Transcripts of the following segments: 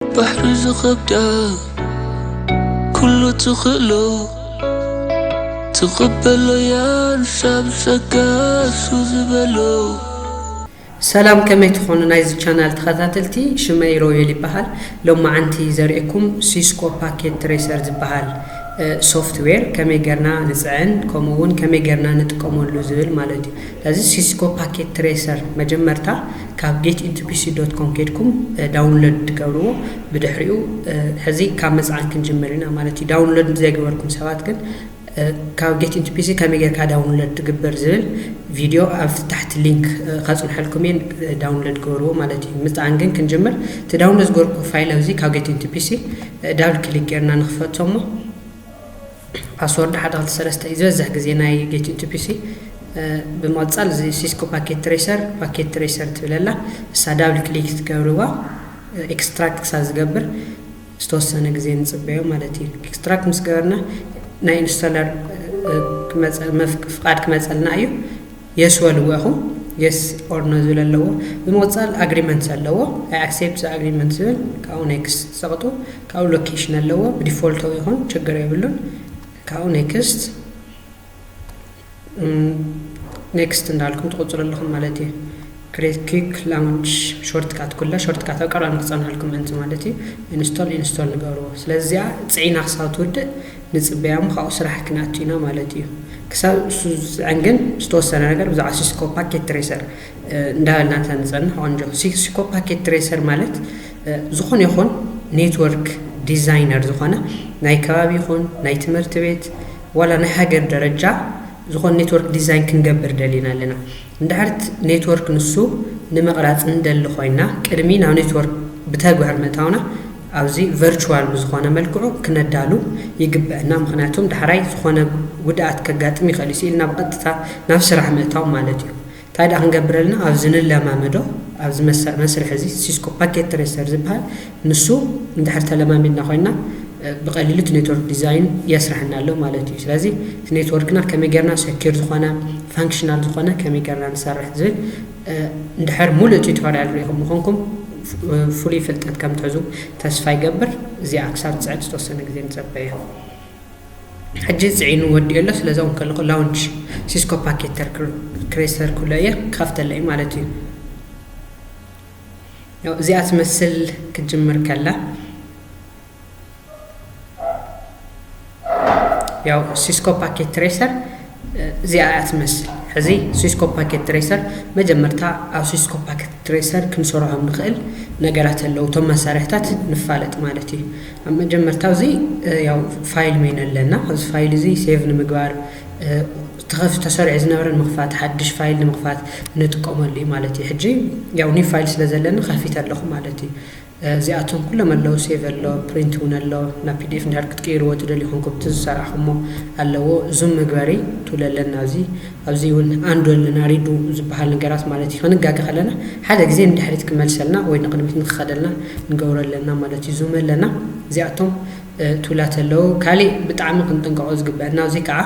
ባሕሪ ዝኸብዳ ኩሉ ትኽእሎ ትቕበሎ ያንሳ ብጸጋሱ ዝበሎ ሰላም ከመይ ትኾኑ ናይዚ ቻናል ተኸታተልቲ ሽመይ ሮቤል ይበሃል ሎማዓንቲ ዘርእኩም ሲስኮ ፓኬት ትሬሰር ዝበሃል ሶፍትዌር ከመይ ገርና ንፅዕን ከምኡ እውን ከመይ ገርና ንጥቀመሉ ዝብል ማለት እዩ ስለዚ ሲስኮ ፓኬት ትሬሰር መጀመርታ ካብ ጌት ኢቲፒሲ ዶት ኮም ከድኩም ዳውንሎድ ትገብርዎ ብድሕሪኡ ሕዚ ካብ ምፅዓን ክንጅምር ኢና ማለት እዩ ዳውንሎድ ዘይገበርኩም ሰባት ግን ካብ ጌት ኢንቱ ፒሲ ከመይ ጌርካ ዳውንሎድ ትግብር ዝብል ቪድዮ ኣብ ታሕቲ ሊንክ ከፅንሐልኩም እየን ዳውንሎድ ግበርዎ ማለት እዩ ምፅዓን ግን ክንጅምር እቲ ዳውንሎድ ዝገበርኩ ፋይል ኣብዚ ካብ ጌት ኢንቱ ፒሲ ዳብል ክሊክ ጌርና ንክፈቶ እሞ ፓስዎርድ ሓደ ክልተ ሰለስተ እዩ ዝበዝሕ ግዜ ናይ ጌት ኢንቱ ፒሲ ብምቕጻል እዚ ሲስኮ ፓኬት ትሬሰር ፓኬት ትሬሰር ትብለላ እሳ ዳብል ክሊክ ትገብርዋ ኤክስትራክት ክሳብ ዝገብር ዝተወሰነ ግዜ ንጽበዮ ማለት እዩ ኤክስትራክት ምስ ገበርና ናይ ኢንስቶለር ፍቓድ ክመፀልና እዩ የስ በልዎ ኢኹም የስ ኦር ኖ ዝብል ኣለዎ ብምቕፃል ኣግሪመንት ኣለዎ ኣይ ኣክሴፕት ዘ ኣግሪመንት ዝብል ካብኡ ኔክስት ዘቕጡ ካብኡ ሎኬሽን ኣለዎ ብዲፎልቶ ይኹን ችግር የብሉን ካብኡ ኔክስት ኔክስት እንዳልኩም ትቕፅሉ ኣለኹም ማለት እዩ Create Quick Launch Shortcut ኩላ ሾርትካት ኣብ ቀረባ ንክጸንሓልኩም ምእንቲ ማለት እዩ Install ኢንስቶል ንገርዎ ስለዚ እዚኣ ጽዒና ክሳብ ትውድእ ንጽበያ እሞ ካብኡ ስራሕ ክንኣቱ ኢና ማለት እዩ ክሳብ እሱ ዝጽዕን ግን ዝተወሰነ ነገር ብዛዕባ ሲስኮ ፓኬት ትሬሰር እንዳበልና እንተ ንጸንሕ ቆንጆ ሲስኮ ፓኬት ትሬሰር ማለት ዝኾነ ይኹን ኔትወርክ ዲዛይነር ዝኾነ ናይ ከባቢ ይኹን ናይ ትምህርቲ ቤት ዋላ ናይ ሃገር ደረጃ ዝኾነ ኔትወርክ ዲዛይን ክንገብር ደሊና ኣለና እንድሕርት ኔትወርክ ንሱ ንምቕራፅ ንደሊ ኮይና ቅድሚ ናብ ኔትወርክ ብተግባር ምእታውና ኣብዚ ቨርችዋል ብዝኾነ መልክዑ ክነዳሉ ይግበእና ምኽንያቱም ዳሕራይ ዝኾነ ጉድኣት ከጋጥም ይኽእል እዩ ስኢልና ብቐጥታ ናብ ስራሕ ምእታው ማለት እዩ እንታይ ድኣ ክንገብረልና ኣብዚ ንለማመዶ ኣብዚ መስርሕ እዚ ሲስኮ ፓኬት ትሬሰር ዝበሃል ንሱ እንድሕር ተለማሚድና ኮይንና ብቀሊሉ እቲ ኔትወርክ ዲዛይን የስረሐና ኣሎ ማለት እዩ። ስለዚ እቲ ኔትወርክና ከመይ ጌርና ሰኪር ዝኾነ ፋንክሽናል ዝኾነ ከመይ ጌርና ንሰርሕ ዝብል እንድሕር ሙሉእ ቲዩቶሪያል ሪኢኹም ምኾንኩም ፍሉይ ፍልጠት ከም ትሕዙ ተስፋ ይገብር። እዚኣ ክሳብ ትፅዕድ ዝተወሰነ ግዜ ንፀበየ። ሕጂ ፅዒኑ ወዲኦ ኣሎ ስለዚ እውን ከለኹ ላውንች ሲስኮ ፓኬት ክሬስተር ክብሎ እየ ክኸፍተለ እዩ ማለት እዩ። ያው እዚኣ ትመስል ክትጅምር ከላ ያው ሲስኮ ፓኬት ትሬሰር እዚኣ እያ ትመስል ሕዚ ሲስኮ ፓኬት ትሬሰር መጀመርታ ኣብ ሲስኮ ፓኬት ትሬሰር ክንሰርሖም ንኽእል ነገራት ኣለዉ እቶም መሳርሕታት ንፋለጥ ማለት እዩ ኣብ መጀመርታ እዚ ያው ፋይል ሜን ኣለና ኣብዚ ፋይል እዚ ሴቭ ንምግባር ተኸፍ ተሰሪዑ ዝነበረ ንምኽፋት ሓድሽ ፋይል ንምኽፋት ንጥቀመሉ እዩ ማለት እዩ ሕጂ ያው ኒው ፋይል ስለ ዘለኒ ከፊት ኣለኹ ማለት እዩ እዚኣቶም ኩሎም ኣለዉ ሴቭ ኣሎ ፕሪንት እውን ኣሎ ናብ ፒዲኤፍ እንድሕር ክትቅይርዎ ትደልዩ ኮንኩም እቲ ዝሰራሕኹሞ ኣለዎ ዙም መግበሪ ቱል ኣለና እዚ ኣብዚ እውን ኣንዱ ኣለና ሪዱ ዝበሃል ነገራት ማለት እዩ ክንጋገ ከለና ሓደ ግዜ ንድሕሪት ክመልሰልና ወይ ንቅድሚት ንክኸደልና ንገብሮ ኣለና ማለት እዩ ዙም ኣለና እዚኣቶም ቱላት ኣለዉ ካሊእ ብጣዕሚ ክንጥንቀቆ ዝግበአና እዚ ከዓ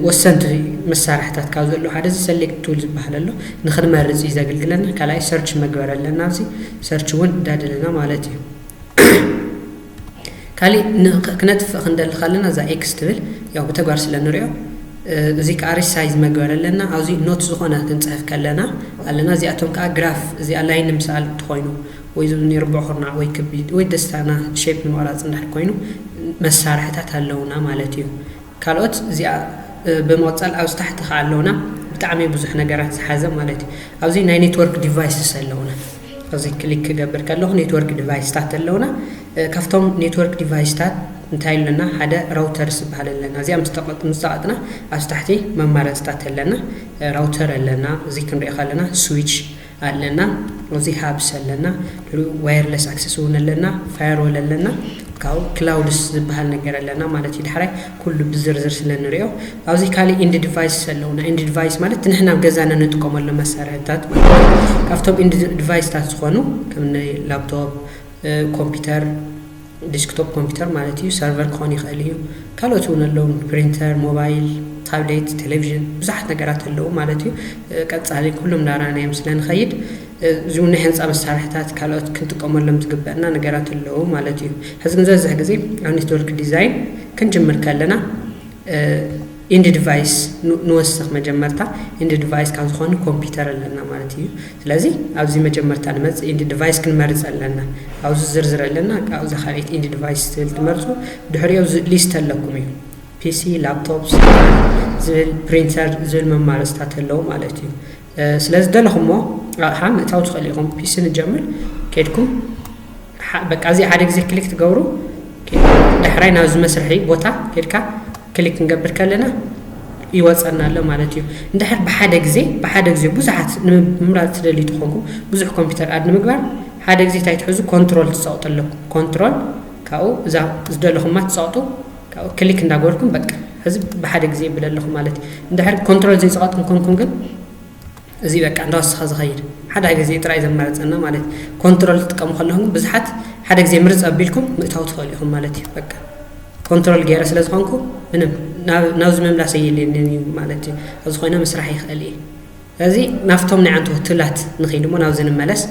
ወሰንቲ መሳርሕታት ካብ ዘለዉ ሓደ እዚ ሰሌክት ቱል ዝበሃል ኣሎ ንክንመርፅ እዩ ዘገልግለና ካልኣይ ሰርች መግበር ኣለና ኣብዚ ሰርች እውን እንዳደለና ማለት እዩ ካሊእ ክነጥፍእ ክንደሊ ካለና እዛ ኤክስ ትብል ያው ብተግባር ስለ ንሪኦ እዚ ከዓ ሪሳይዝ መግበር ኣለና ኣብዚ ኖት ዝኾነ ክንፅሕፍ ከለና ኣለና እዚኣቶም ከዓ ግራፍ እዚኣ ላይ ንምስኣል እንትኮይኑ ወይ ዝብኒ ርቡዕ ኩርናዕ ወይ ክቢ ወይ ደስታና ሼፕ ንምቕራፅ እንዳሕር ኮይኑ መሳርሕታት ኣለውና ማለት እዩ ካልኦት እዚኣ ብምቕጻል ኣብዚ ታሕቲ ከኣ ኣለውና ብጣዕሚ ብዙሕ ነገራት ዝሓዘ ማለት እዩ። ኣብዚ ናይ ኔትወርክ ዲቫይስስ ኣለውና። ኣብዚ ክሊክ ክገብር ከለኹ ኔትወርክ ዲቫይስታት ኣለውና። ካብቶም ኔትወርክ ዲቫይስታት እንታይ ኣለና ሓደ ራውተርስ ዝበሃል ኣለና። እዚኣ ምስ ተቐጥና ኣብዚ ታሕቲ መማረጽታት ኣለና። ራውተር ኣለና እዚ ክንሪኦ ከለና ስዊች ኣለና እዚ ሃብስ ኣለና ዋየርለስ ኣክሰስ እውን ኣለና ፋየርወል ኣለና ካብኡ ክላውድስ ዝበሃል ነገር ኣለና ማለት እዩ ዳሕራይ ኩሉ ብዝርዝር ስለ ንሪኦ ኣብዚ ካልእ ኢንድ ዲቫይስ ኣለውና ኢንድ ዲቫይስ ማለት ንሕና ኣብ ገዛና ንጥቀመሉ መሳርሕታት ማለት እዩ ካብቶም ኢንድ ዲቫይስታት ዝኾኑ ከም ላፕቶፕ ኮምፒውተር ዲስክቶፕ ኮምፒተር ማለት እዩ ሰርቨር ክኾን ይኽእል እዩ ካልኦት እውን ኣለዉ ፕሪንተር ሞባይል ታብሌት ቴሌቭዥን ብዙሓት ነገራት ኣለዉ ማለት እዩ ቀፃሊ ኩሎም ዳራናዮም ስለ ንኸይድ እዚ ናይ ህንፃ መሳርሕታት ካልኦት ክንጥቀመሎም ዝግበአና ነገራት ኣለዉ ማለት እዩ ሕዚ ግን ዝበዝሕ ግዜ ኣብ ኔትወርክ ዲዛይን ክንጅምር ከለና ኢንድ ድቫይስ ንወስኽ መጀመርታ ኢንድ ድቫይስ ካብ ዝኾኑ ኮምፒተር ኣለና ማለት እዩ ስለዚ ኣብዚ መጀመርታ ንመጽእ ኢንድ ድቫይስ ክንመርጽ ኣለና ኣብዚ ዝርዝር ኣለና ኣብዛ ካልኣይቲ ኢንድ ድቫይስ ትብል ትመርጹ ድሕሪኦ ሊስት ኣለኩም እዩ ፒሲ ላፕቶፕ ዝብል ፕሪንተር ዝብል መማረጽታት ኣለዉ ማለት እዩ ስለ ዝደለኹሞ ኣቕሓ ምእታው ትኽእሉ ኢኹም። ፒሲ ንጀምር ኬድኩም በቃ እዚ ሓደ ግዜ ክሊክ ትገብሩ ዳሕራይ ናብዚ መስርሒ ቦታ ኬድካ ክሊክ ክንገብር ከለና ይወፀና ኣሎ ማለት እዩ እንድሕር ብሓደ ግዜ ብሓደ ግዜ ብዙሓት ንምምራፅ ትደልዩ ተኾንኩም ብዙሕ ኮምፒውተር ኣድ ንምግባር ሓደ ግዜ እንታይ ትሕዙ ኮንትሮል ትፀቕጡ ኣለኩም ኮንትሮል ካብኡ እዛ ዝደለኹማ ትፀቕጡ ካብኡ ክሊክ እንዳገበርኩም በቃ ሕዚ ብሓደ ግዜ የብል ኣለኹ ማለት እዩ። እንድሕር ኮንትሮል ዘይጸቐጥኩም ኮንኩም ግን እዚ በቃ እንዳወሰኸ ዝኸይድ ሓደ ግዜ ጥራይ ዘማርጸና ማለት እዩ። ኮንትሮል ክትጥቀሙ ከለኹም ግን ብዙሓት ሓደ ግዜ ምርጽ ኣቢልኩም ምእታው ትኸእሉ ኢኹም ማለት እዩ። በቃ ኮንትሮል ገይረ ስለ ዝኾንኩ ምንም ናብዚ ምምላስ ኣየድልየንን እዩ ማለት እዩ። ኣብዚ ኮይነ ምስራሕ ይኸእል እየ። እዚ ናብቶም ናይ ኣንቱሁ ትብላት ንኺድ እሞ ናብዚ ንመለስ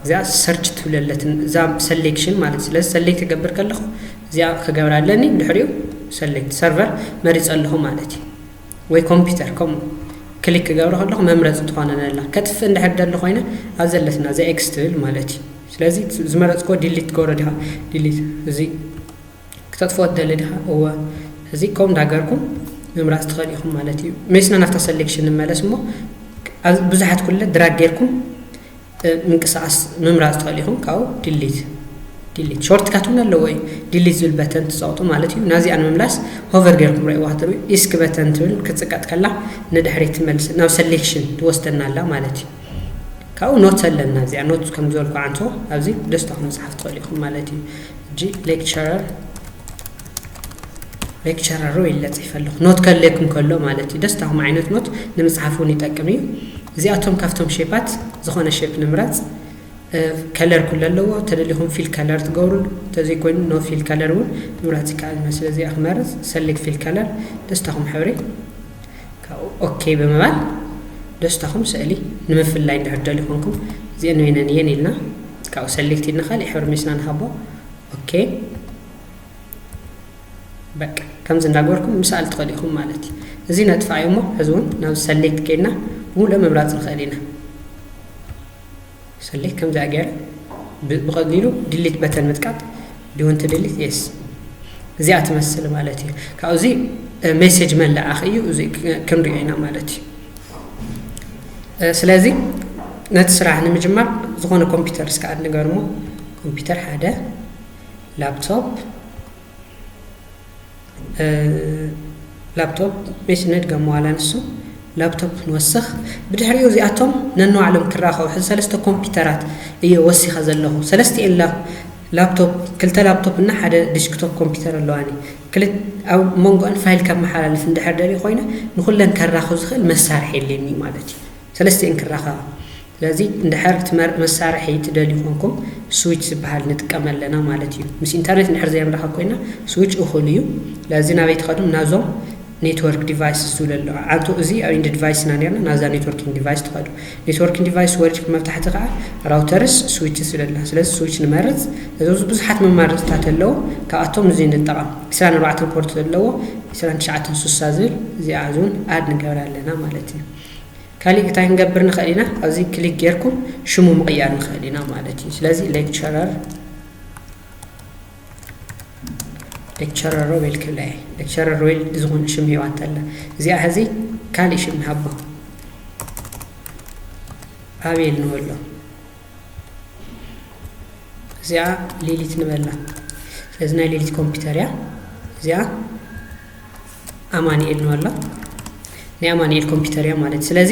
እዚኣ ሰርች ትብል ኣለትን እዛ ሰሌክሽን ማለት ስለዚ ሰሌክት ክገብር ከለኹ እዚኣ ክገብራ ኣለኒ ድሕሪኡ ሰሌክት ሰርቨር መሪፀ ኣለኹ ማለት እዩ ወይ ኮምፒውተር ከምኡ ክሊክ ክገብረ ከለኹ መምረፂ ትኾነን ኣላ ከጥፍእ እንድሕር ደሊ ኮይነ ኣብ ዘለትና እዚ ኤክስ ትብል ማለት እዩ ስለዚ ዝመረፅኮ ዲሊት ትገብሮ ዲኻ ዲሊት እዚ ክተጥፍኦ ትደሊ ዲኻ? እወ። ስለዚ ከምኡ እንዳገርኩም ምምራጽ ትኸእሉ ኢኹም ማለት እዩ። ሜስና ናብታ ሰሌክሽን ንመለስ እሞ ኣብ ብዙሓት ኩለ ድራግ ጌርኩም ምንቅስቓስ ምምራጽ ትኸእሉ ኢኹም ካብኡ ዲሊት ዲሊት ሾርት ካት እውን ኣለዎ እዩ ዲሊት ዝብል በተን ትፀቕጡ ማለት እዩ ናዚኣ ንምምላስ ሆቨር ገርኩም ርእይዋ ክትርኢ ኢስክ በተን ትብል ክፅቀጥ ከላ ንድሕሪት ትመልስ ናብ ሰሌክሽን ትወስደና ኣላ ማለት እዩ ካብኡ ኖት ኣለና እዚኣ ኖት ከም ዝበልኩ ዓንቶ ኣብዚ ደስታኹም መፅሓፍ ትኽእሉ ኢኹም ማለት እዩ ሕጂ ሌክቸረር ሌክቸረሩ ኢለ ጽሒፈ ኣለኹ ኖት ከድልየኩም ከሎ ማለት እዩ ደስታኹም ዓይነት ኖት ንምጽሓፍ እውን ይጠቅም እዩ እዚኣቶም ካብቶም ሼፓት ዝኾነ ሼፕ ንምረጽ ከለር ኩለ ኣለዎ ተደሊኹም ፊል ከለር ትገብሩ ተዘይኮይኑ ኖ ፊል ከለር እውን ምምራጽ ይከኣል እዩ ስለዚ ክመርጽ ሰሌክት ፊል ከለር ደስታኹም ሕብሪ ካብኡ ኦኬ ብምባል ደስታኹም ስእሊ ንምፍላይ እንድሕር ትደልዩ ኮንኩም እዚኤን ወይነን እየን ኢልና ካብኡ ሰሌክት ኢልና ካሊእ ሕብሪ ሚስና ንሃቦ ኦኬ በቃ ከምዚ እንዳገበርኩም ምሳል ትኽእሉ ኢኹም ማለት እዩ እዚ ነጥፋዮ እሞ ሕዚ እውን ናብ ሰሌክት ከይድና ብምሉእ ምምራፅ ንኽእል ኢና ሰሌ ከምዚኣ ገይረ ብቀሊሉ ድሊት በተን ምጥቃጥ ዲወንት ድሊት የስ እዚኣ ትመስል ማለት እዩ ካብኡ እዚ ሜሴጅ መላኣኽ እዩ እዚ ክንሪኦ ኢና ማለት እዩ ስለዚ ነቲ ስራሕ ንምጅማር ዝኾነ ኮምፒውተር እስከ ኣድ ንገርሞ ኮምፒውተር ሓደ ላፕቶፕ ላፕቶፕ መች ነድገሞ ዋላ ንሱ ላፕቶፕ ንወስኽ ብድሕሪኡ እዚኣቶም ነንባዕሎም ክራኸቡ ሕዚ ሰለስተ ኮምፒውተራት እየ ወሲኸ ዘለኹ ሰለስቲኤን ላፕቶፕ ክልተ ላፕቶፕ እና ሓደ ዲስክቶፕ ኮምፒውተር ኣለዋኒ ኣብ መንጎአን ፋይል ከመሓላልፍ እንድሕር ደልየ ኮይነ ንኩለን ከራኽብ ዝኽእል መሳርሒ የለኒ ማለት እዩ ሰለስቲኤን ክራኸባ። ስለዚ እንድሕር ትመርጽ መሳርሒ ትደልዩ ኮንኩም ስዊች ዝብሃል ንጥቀም ኣለና ማለት እዩ። ምስ ኢንተርኔት እንድሕር ዘይንራኸብ ኮይና ስዊች እኹል እዩ። ስለዚ ናበይ ትኸዱ ናዞም ኔትወርክ ዲቫይስስ ዝብሉ ኣለዉ። ኣንቶ እዚ ኣብ ኢንድ ዲቫይስ ኢና ኔርና ናብዛ ኔትወርኪንግ ዲቫይስ ትኸዱ። ኔትወርኪንግ ዲቫይስ ወሪድኩም ኣብ ታሕቲ ከኣ ራውተርስ ስዊችስ ዝብል ኣሎ። ስለዚ ስዊች ንመርጽ። እዚ ብዙሓት መማረጽታት ኣለዉ። ካብኣቶም እዚ ንጠቐም። ዕስራን ኣርባዕተን ፖርት ዘለዎ ዕስራን ትሽዓተን ሱሳ ዝብል እዚኣ እዚውን ኣድ ንገብራ ኣለና ማለት እዩ። ካሊእ እታይ ክንገብር ንክእል ኢና ኣብዚ ክሊክ ጌርኩም ሽሙ ምቕያር ንክእል ኢና ማለት እዩ ስለዚ ሌክቸረር ሌክቸረር ሮቤል ክብላየ ሌክቸረር ሮቤል ዝኹን ሽም ሂዋ እንተላ እዚኣ ሕዚ ካሊእ ሽም ንሃቦ ኣቤል ንበሎ እዚኣ ሌሊት ንበላ ስለዚ ናይ ሌሊት ኮምፒውተር እያ እዚኣ ኣማኒኤል ነው ኣላ ናይ ኣማኒኤል ኮምፒተር እያ ማለት ስለዚ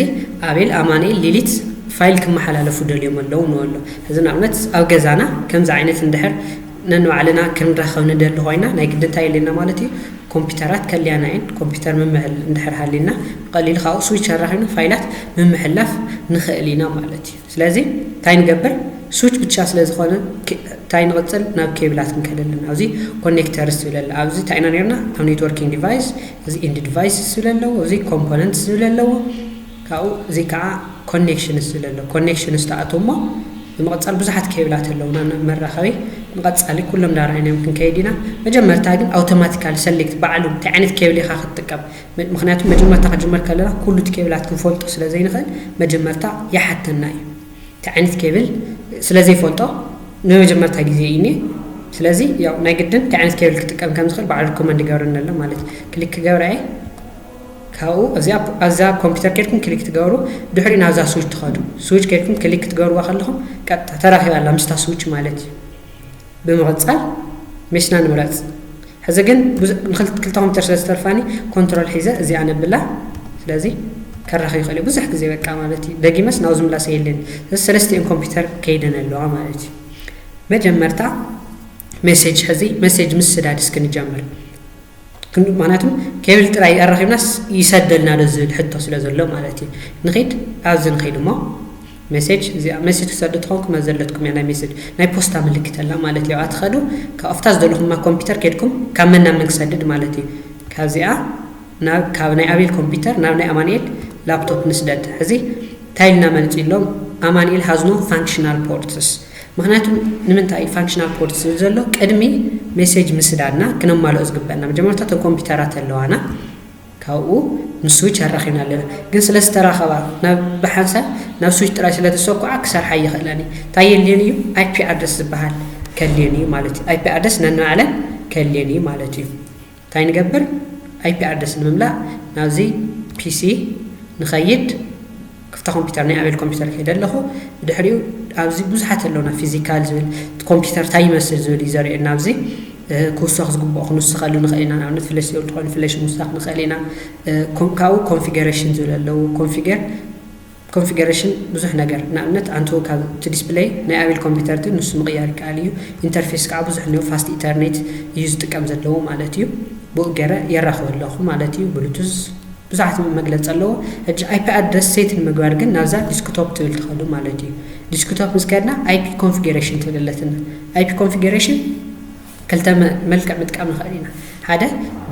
ኣቤል ኣማኒኤል ሊሊት ፋይል ክመሓላለፉ ደልዮም ኣለዉ ነው ኣሎ እዚ ንኣብነት ኣብ ገዛና ከምዚ ዓይነት እንድሕር ነንባዕልና ክንረኸብ ንደሊ ኮይና ናይ ግዲ እንታይ የለና ማለት እዩ ኮምፒተራት ከልያና እየን ኮምፒተር ምምሕል እንድሕር ሃልዩና ብቐሊሉ ካብኡ ስዊች ኣራኺብና ፋይላት ምምሕላፍ ንኽእል ኢና ማለት እዩ ስለዚ እንታይ ንገብር ስዊች ብቻ ስለ ዝኾነ እንታይ ንቕጽል ናብ ኬብላት ክንከድ ኣለና ኣብዚ ኮኔክተርስ ዝብል ኣሎ ኣብዚ እንታይ ኢና ነርና ኣብ ኔትወርኪንግ ዲቫይስ እዚ ኢንድ ዲቫይስ ዝብል ኣለዎ እዚ ኮምፖነንትስ ዝብል ኣለዎ ካብኡ እዚ ከዓ ኮኔክሽንስ ዝብል ኣሎ ኮኔክሽንስ ተኣትው እሞ ብምቕጻል ብዙሓት ኬብላት ኣለውና ናብ መራኸቢ ንቐጻሊ ኩሎም ዳርኣይናዮም ክንከይድ ኢና መጀመርታ ግን ኣውቶማቲካሊ ሰሌክት ባዕሉ እንታይ ዓይነት ኬብል ኢኻ ክትጥቀም ምክንያቱ መጀመርታ ክጅመር ከለና ኩሉ እቲ ኬብላት ክንፈልጦ ስለ ዘይንክእል መጀመርታ ይሓተና እዩ እቲ ዓይነት ኬብል ስለ ዘይፈልጦ ንመጀመርታ ግዜ እዩ ኔ ስለዚ ያው ናይ ግድን እንታይ ዓይነት ኬብል ክጥቀም ከም ዝኽእል ባዕሉ ሪኮመንድ ይገብረኒ ኣሎ ማለት እዩ ክሊክ ክገብራ እየ ካብኡ እዚኣ ኣብዛ ኮምፒውተር ኬድኩም ክሊክ ትገብሩ ድሕሪ ናብዛ ስዊች ትኸዱ ስዊች ኬድኩም ክሊክ ክትገብርዋ ከለኹም ቀጥታ ተራኺባ ኣላ ምስታ ስዊች ማለት እዩ ብምቕጻል ሜስና ንምረጽ ሕዚ ግን ንክልተ ኮምፒተር ስለ ዝተርፋኒ ኮንትሮል ሒዘ እዚኣ ነብላ ስለዚ ከራኺ ይኽእል እዩ ብዙሕ ግዜ በቃ ማለት እዩ ደጊመስ ናብ ዝምላሰ የለን ስለዚ ሰለስቲኤን ኮምፒተር ከይደን ኣለዋ ማለት እዩ መጀመርታ ሜሴጅ ሕዚ ሜሴጅ ምስዳድ እስኪ ንጀምር ክንዱ ምክንያቱ ኬብል ጥራይ ኣራኪብናስ ይሰደልና ዶ ዝብል ሕቶ ስለ ዘሎ ማለት እዩ ንኪድ ኣብዚ ንኪድ እሞ ሜሴጅ እዚኣ ሜሴጅ ክትሰዱ ተኾንኩም ኣብ ዘለትኩም እያ ናይ ሜሴጅ ናይ ፖስታ ምልክት ኣላ ማለት እዩ ኣብኣ ትኸዱ ካብ ኣብታ ዝደለኹማ ኮምፒተር ኬድኩም ካብ መን ናብ መን ክሰድድ ማለት እዩ ካብዚኣ ናብ ካብ ናይ ኣቤል ኮምፒተር ናብ ናይ ኣማንኤል ላፕቶፕ ንስደድ ሕዚ እንታይ ኢልና መልፂ ኢሎም ኣማንኤል ሃዝኖ ፋንክሽናል ፖርትስ ምኽንያቱ ንምንታይ እዩ ፋንክሽናል ኮድስ ዝብል ዘሎ ቅድሚ ሜሴጅ ምስዳድና ክነማልኦ ዝግበእና መጀመርታ እተን ኮምፒውተራት ኣለዋና ካብኡ ምስ ስዊች ኣራኺብና ኣለና ግን ስለ ዝተራኸባ ናብ ብሓንሳብ ናብ ስዊች ጥራይ ስለ ተሰኩዓ ክሰርሓ ይኽእለን እዩ እንታይ የድልየን እዩ ኣይፒ ኣድረስ ዝበሃል ከድልየን እዩ ማለት እዩ ኣይፒ ኣድረስ ነንባዕለን ከድልየን እዩ ማለት እዩ ታይ ንገብር ኣይፒ ኣድረስ ንምምላእ ናብዚ ፒሲ ንኸይድ ክፍታ ኮምፒተር ናይ ኣቤል ኮምፒተር ከይደ ኣለኹ ብድሕሪኡ ኣብዚ ብዙሓት ኣለውና ፊዚካል ዝብል ኮምፒተር ታይ ይመስል ዝብል እዩ ዘርእየና ኣብዚ ክውሰኽ ዝግብኦ ክንውስኸሉ ንኽእል ኢና ንኣብነት ፍለሽ ዝብል ትኾይኑ ፍለሽ ምውሳኽ ንኽእል ኢና ካብኡ ኮንፊገሬሽን ዝብል ኣለዉ ኮንፊገር ኮንፊገረሽን ብዙሕ ነገር ንኣብነት ኣንትው ካብ እቲ ዲስፕለይ ናይ ኣቤል ኮምፒተር ግን ንሱ ምቕያር ይከኣል እዩ ኢንተርፌስ ከኣ ብዙሕ ን ፋስት ኢተርኔት እዩ ዝጥቀም ዘለዎ ማለት እዩ ብኡ ገረ የራኽቦ ኣለኹ ማለት እዩ ብሉቱዝ ብዙሓት መግለጺ ኣለዎ ሕጂ ኣይፒ ኣድረስ ሴት ንምግባር ግን ናብዛ ዲስክቶፕ ትብል ትኸዱ ማለት እዩ ዲስክቶፕ ምስ ከድና ኣይፒ ኮንፊገረሽን ትብል ኣለትና ኣይፒ ኮንፊገረሽን ክልተ መልክዕ ምጥቃም ንኸእል ኢና። ሓደ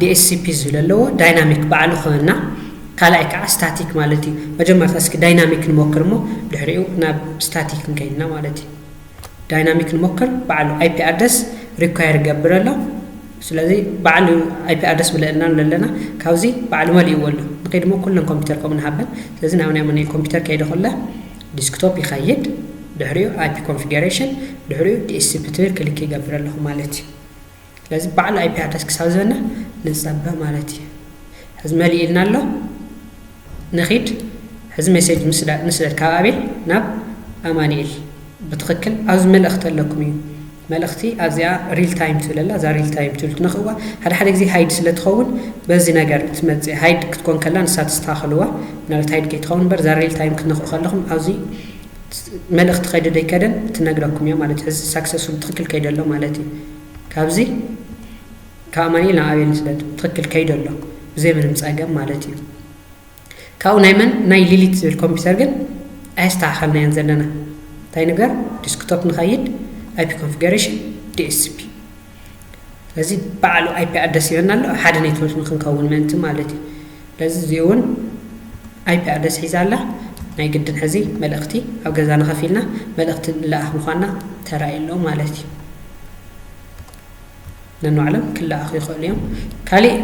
ዲኤስሲፒ ዝብል ኣለዎ፣ ዳይናሚክ ባዕሉ ክህና፣ ካልኣይ ከኣ ስታቲክ ማለት እዩ። መጀመርታ እስኪ ዳይናሚክ ንሞክር እሞ ድሕሪኡ ናብ ስታቲክ ክንከይድና ማለት እዩ። ዳይናሚክ ንሞክር፣ ባዕሉ ኣይፒ ኣድረስ ሪኳየር ይገብር ኣሎ። ስለዚ ባዕሉ ኣይፒ ኣድረስ ምለእልና ኣሎ ኣለና፣ ካብዚ ባዕሉ መሊእዎ ኣሎ። ንኸይድ እሞ ኩለን ኮምፒተር ከምኡ ንሃበን። ስለዚ ናብ ናይ መነይ ኮምፒተር ከይደ ኩለ ዲስክቶፕ ይኸይድ ድሕሪኡ ኣይፒ ኮንፊገረሽን ድሕሪኡ ዲኤስሲፒ ትብል ክሊክ ይገብር ኣለኹ ማለት እዩ ስለዚ ባዕሉ ኣይፒ ኣድረስ ክሳብ ዝበና ንፀበ ማለት እዩ ሕዚ መሊእ ኢልና ኣሎ ንኺድ ሕዚ ሜሴጅ ንስደድ ካብ ኣቤል ናብ ኣማኒኤል ብትኽክል ኣብዚ መልእኽቲ ኣለኩም እዩ መልእኽቲ ኣብዚኣ ሪል ታይም ትብል ኣላ እዛ ሪል ታይም ትብል ትነክእዋ ሓደ ሓደ ግዜ ሃይድ ስለ ትኸውን በዚ ነገር ትመጽእ ሃይድ ክትኮን ከላ ንሳ ተስተኻኽልዋ ምናልባት ሃይድ ከይትኸውን እምበር እዛ ሪል ታይም ክትነክኡ ከለኹም ኣብዚ መልእኽቲ ከይደ ደይከደን ትነግረኩም እያ ማለት ሕዚ ሳክሰስፉል ትክክል ከይደ ኣሎ ማለት እዩ ካብዚ ካብ ኣማኒኤል ናብ ኣቤል ስለ ትክክል ከይደ ኣሎ ብዘይ ምንም ጸገም ማለት እዩ ካብኡ ናይ መን ናይ ሊሊት ዝብል ኮምፒተር ግን ኣየስተካከልናዮን ዘለና እንታይ ንግበር ዲስክቶፕ ንከይድ ኣይፒ ኮንፊገረሽን DSCP ስለዚ ባዕሉ ኣይፒ ኣድረስ ይበና ኣሎ ኣብ ሓደ ኔትወርክ ንክንከውን ምእንቲ ማለት እዩ ስለዚ እዚኡ እውን ኣይፒ ኣድረስ ሒዛ ኣላ ናይ ግድን ሕዚ መልእክቲ ኣብ ገዛና ከፊልና መልእክቲ ንለኣክ ምኳና ተራእዩ ኣሎ ማለት እዩ ነንባዕሎም ክለኣኹ ይኽእሉ እዮም። ካሊእ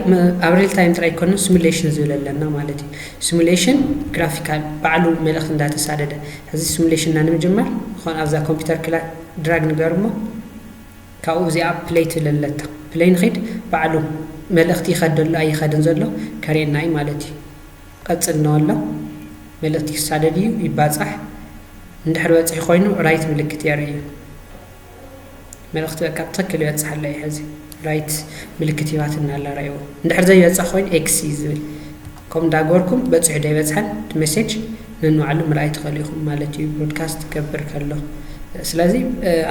ኣብ ሪል ታይም ጥራይ ኣይኮንነ ስሙሌሽን ዝብል ኣለና ማለት እዩ። ስሙሌሽን ግራፊካል ባዕሉ መልእኽቲ እንዳተሳደደ ሕዚ ስሙሌሽንና ንምጅማር ዝኾነ ኣብዛ ኮምፒተር ክላ ድራግ ንገር እሞ ካብኡ እዚኣ ፕለይ ትብል ኣለታ ፕለይ ንኺድ ባዕሉ መልእኽቲ ይኸድ ኣሎ ኣይኸድን ዘሎ ከርእየና እዩ ማለት እዩ። ቀጽል ነወሎ መልእኽቲ ክሳደድ እዩ ይባጻሕ እንድሕር በጺሑ ኮይኑ ራይት ምልክት የርእይ እዩ። መልእኽቲ በቃ ብትኽክል ይበጽሕ ኣሎ እዩ ሕዚ ራይት ምልክት ሂባትና ኣላ ራእዎ እንድሕር ዘይበጽሕ ኮይኑ ኤክስ እዩ ዝብል ከምኡ እንዳገበርኩም በጺሑ ዶ ይበጽሐን እቲ ሜሴጅ ነንባዕሉ ምርኣይ ትኽእሉ ኢኹም ማለት እዩ ብሮድካስት ትገብር ከሎ ስለዚ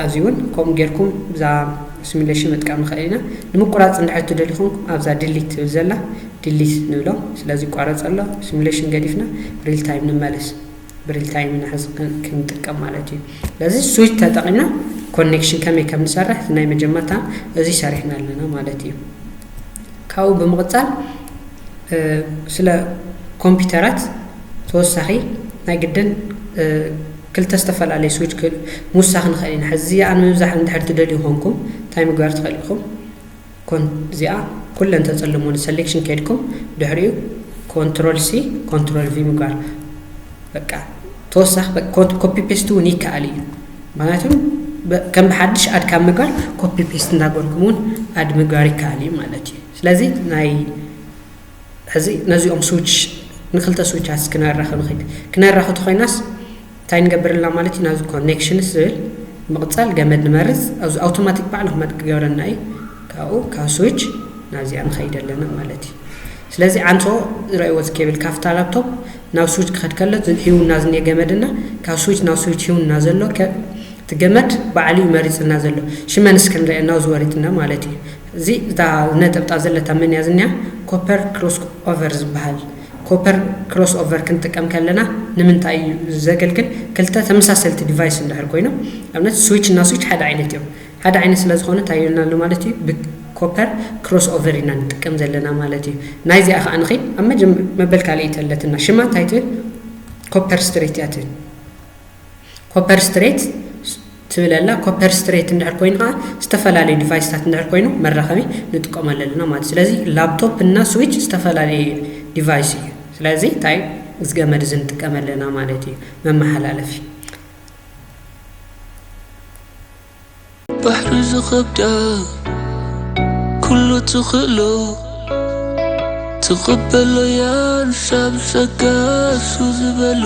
ኣብዚ እውን ከምኡ ጌርኩም እዛ ሲሚሌሽን ምጥቃም ንኽእል ኢና ንምቁራፅ እንድሕር ትደልዩ ኮንኩም ኣብዛ ድሊት ትብል ዘላ ድሊት ንብሎ ስለዚ ይቋረፅ ኣሎ ሲሚሌሽን ገዲፍና ሪል ታይም ንመለስ ብሪል ታይም ኢና ሕዚ ክንጥቀም ማለት እዩ ስለዚ ስዊች ተጠቂምና ኮኔክሽን ከመይ ከም ንሰርሕ ናይ መጀመርታ እዚ ሰሪሕና ኣለና ማለት እዩ ካብኡ ብምቕፃል ስለ ኮምፒውተራት ተወሳኺ ናይ ግድን ክልተ ዝተፈላለየ ስዊች ምውሳኽ ንኽእል ኢና ሕዚ ኣነ ምብዛሕ እንድሕር ትደልዩ ኮንኩም እንታይ ምግባር ትኽእል ኢኹም ኮን እዚኣ ኩለን ተጽልሞ ንሰሌክሽን ከድኩም ድሕሪኡ ኮንትሮል ሲ ኮንትሮል ቪ ምግባር በቃ ተወሳኺ ኮፒ ፔስት እውን ይከኣል እዩ ምክንያቱም ከም ብሓድሽ ኣድ ካብ ምግባር ኮፒ ፔስት እንዳገርኩም እውን ኣድ ምግባር ይከኣል እዩ ማለት እዩ ስለዚ ናይ ሕዚ ነዚኦም ስዊች ንክልተ ስዊቻት እስኪ ነራኺ ንኺድ ክነራኺ ተኾይናስ እንታይ ንገብር ኣለና ማለት እዩ ናብዚ ኮኔክሽንስ ዝብል ምቕፃል ገመድ ንመርፅ ኣብዚ ኣውቶማቲክ ባዕሉ ክመጥ ክገብረና እዩ ካብኡ ካብ ስዊች ናብዚኣ ንኸይድ ኣለና ማለት እዩ ስለዚ ዓንሶ ዝረእይዎ እዚ ኬብል ካብታ ላፕቶፕ ናብ ስዊች ክኸድ ከሎ ሂውና ዝኒሄ ገመድና ካብ ስዊች ናብ ስዊች ሂውና ዘሎ እቲ ገመድ ባዕሉ እዩ መሪፅና ዘሎ ሽመንስ ክንሪኦ ናብ ዝወሪፅና ማለት እዩ እዚ እታ ነጠብጣብ ዘለታ መን እያ ዝኒኣ ኮፐር ክሮስ ኦቨር ዝበሃል ኮፐር ክሮስ ኦቨር ክንጥቀም ከለና ንምንታይ እዩ ዘገልግል ክልተ ተመሳሰልቲ ዲቫይስ እንድሕር ኮይኖም ኣብነት ስዊች እና ስዊች ሓደ ዓይነት እዮም ሓደ ዓይነት ስለ ዝኾነ እንታይ ይብልና ኣሎ ማለት እዩ ብኮፐር ክሮስ ኦቨር ኢና ንጥቀም ዘለና ማለት እዩ ናይዚኣ ከዓ ንኺ ኣብ መበል ካልእይቲ ኣለትና ሽማ እንታይ ትብል ኮፐር ስትሬት እያ ትብል ኮፐር ስትሬት ትብል ኣላ ኮፐር ስትሬት እንድሕር ኮይኑ ከዓ ዝተፈላለዩ ዲቫይስታት እንድሕር ኮይኑ መራኸቢ ንጥቀመሉ ኣለና ማለት ስለዚ ላፕቶፕ እና ስዊች ዝተፈላለዩ ዲቫይስ እዩ ስለዚ እንታይ እዚ ገመድ እዚ ንጥቀም ኣለና ማለት እዩ መመሓላለፊ ባሕሪ ዝኸብዳ ኩሉ ትኽእሎ ትቕበሎ እያ ንሳብ ጸጋሱ ዝበሎ